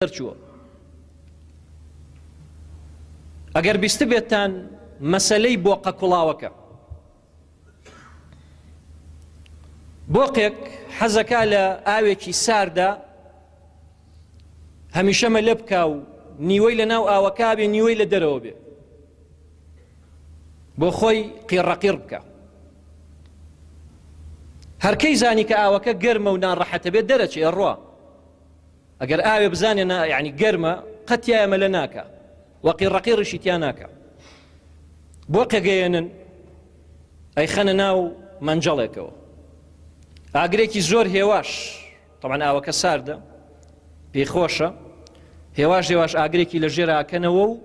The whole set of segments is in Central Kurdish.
دەرچووە ئەگەر بیستبێتتان مەسلەی بۆقە کوڵاوەکە بۆقێک حەزەکە لە ئاوێکی ساردا هەمیشەمە لە بکا و نیوەی لە ناو ئاوەکە بێ نیوەی لە دەرەوە بێ بۆ خۆی قیڕەقیر بکە هەرکەی زانی کە ئاوەکە گەرمە و ناڕەحەتە بێت دەرەچێ ڕوە ئەگەر ئاوێ بزانێ نا یعنی گەرمە قەتیایە مەلە ناکە وەقی ڕقی ڕشی تیا ناکە بۆ قەگەیەنن ئەی خەنە ناو مەنجەڵێکەوە ئاگرێکی زۆر هێواش تەمان ئاوەکە ساردە پێی خۆشە هێواش هێواش ئاگرێکی لە ژێراکەنەوە و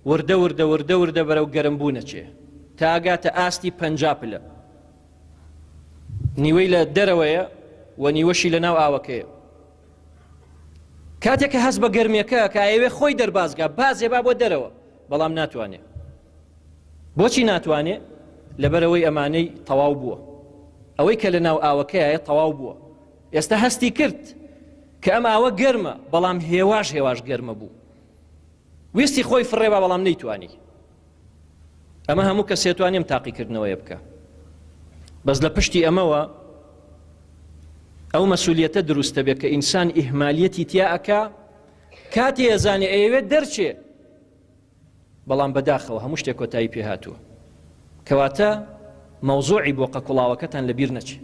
وردە وردە وردە وردە بەرەو گەرم بوو نەچێ تاگاتە ئاستی پەنج پلە نیوەی لە دەرەوەیە و نیوەشی لە ناو ئاوەکەیە کاتێک کە هەست بە گەرمێکە کە ئەوێ خۆی دەربازگا بازێ با بۆ دەرەوە بەڵام ناتوانێ بۆچی ناتوانێ لەبەرەوەی ئەمانەی تەواو بووە ئەوەی کە لە ناو ئاوەکەیە تەواو بووە ئێستا هەستی کرد کە ئەم ئاوە گەرمە بەڵام هێواش هێواش گەرمە بوو ویستی خۆی فڕێبا بەڵام نەیتوانی ئەمە هەموو کەسێ توان نیم تاقیکردنەوەیە بکە بەس لە پشتی ئەمەوە ئەو مەسولیەتە دروستە بێت کە ئینسان ئیهمالیەتی تیاکە کاتی ئەزانێ ئەوێت دەرچێ بەڵام بەداخەوە هەموو شتێک کۆتایی پێ هاتووە کەواتە مەوزوعی بۆ قەکوڵاوەکەتان لەبیر نەچێت